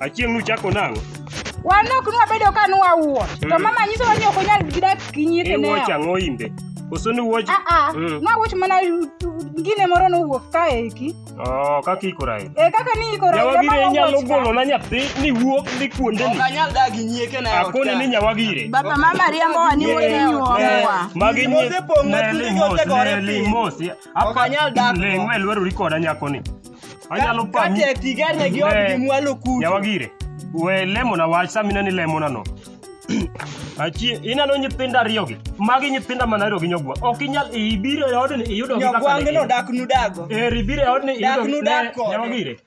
Achieng' nuchako nang'o? Wan ok nwabedo ka nwawuo. To Mm. mama nyisowa ni ok onyal gidak gi nyieke E ne. watch ang'o imbe? Koso ni watch? Ah ah. Mm. Nwawuoch mana gine moro nowuok kae eki. Oh, kaka ikora e. E kaka ni ikoro Nyawagire inyalo golona nyathi ni wuok ni kuonde ni. Okanyal dagi nyieke na ot Akone ni kae. nyawagire. Baba mama riambo wa ni Yeah. wode nyuomwa. Magi Mose pong' na nyi- tinde Nelly Mos, otegore Nelly piny. Mos, yeah. Ok anyal dak go. Leng' we lwerori koda nyakoni. Anyalo pami. Kate tigerne gi odgi Eh, mwalo kucho. Nyawagire. We lemona wach sama ineno ilemona no. Achie, ineno nyithindo ariyogi. Magi nyithinda mana ariyo gi nyogwa. Ok inyal ibiro e odni iyudo gi kaka Nyogwange ne no in. dak nudago. Eri biro e odni Dak iyudo nudak ne kode. nyawagire.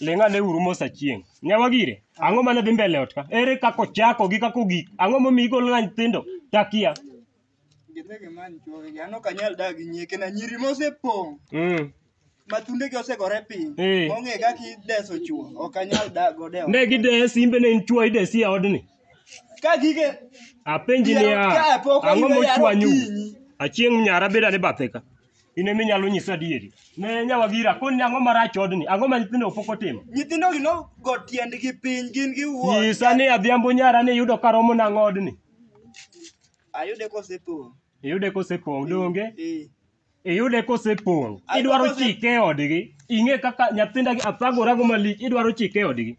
Ling' ane uru mos achieng'. Nyawa gire, ang'o mane dhi mbele ot ka? Ere kaka ochako gi kaka ogik? Ang'o momiyo igolo na nyithindo? Takia. Gidhi gimany chuogi gi. An ok anyal dak gi nyieke na nyiri mosepong' Mm. ma thundegi osegore piny. Eh. Mong'e kaka ideso chuo. Ok anyal dak godo e ot. Ne gideye simbe ne in chwo idesi e odni. Ka gige Apenji Yaro niya, ka pok ang'o oyudo yaro mochwanyu? kinyi. Achieng' nyara beda ni bathe ka. in ema inyalo nyisa adieri ne nyawagira koni ni ang'o marach odni ang'o ma nyithindo pok otimo Nyithindo gi nogo tiendgi piny gin giwuon. nyisa ni adhiambo nyara ni iyudo ka romo nang'o odni Ayude kosepong'. iyude kosepong' donge Eh. iyude kosepong' Ay, idwaro kose- chike e odgi ing'e kaka nyathinda gi athagorago malich idwaro chike e odgi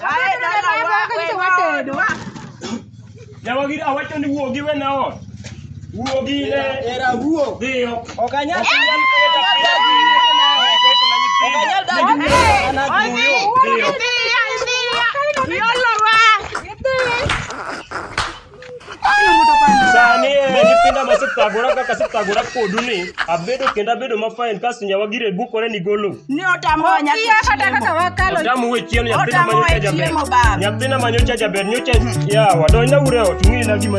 Ae dalawa we watedo. Jawagi awacho ni wuogi we na ot. Wuogi ne era wuo. Dhiyo. Ok anyal Dhiyo. Sani e nyithinda masethagora kaka asethagora kodu ni abedo kendo abedo mafain kasto nyawa gire bukore ni golo. Ni otamoa nyaka Okia kata chiemo. kaka wakalo. Otamu we chiemo nyathina Otamoa manyocha jaber. chiemo, baba. Nyathina manyocha jaber nyocha yawa donjna ure ot ng'i na gima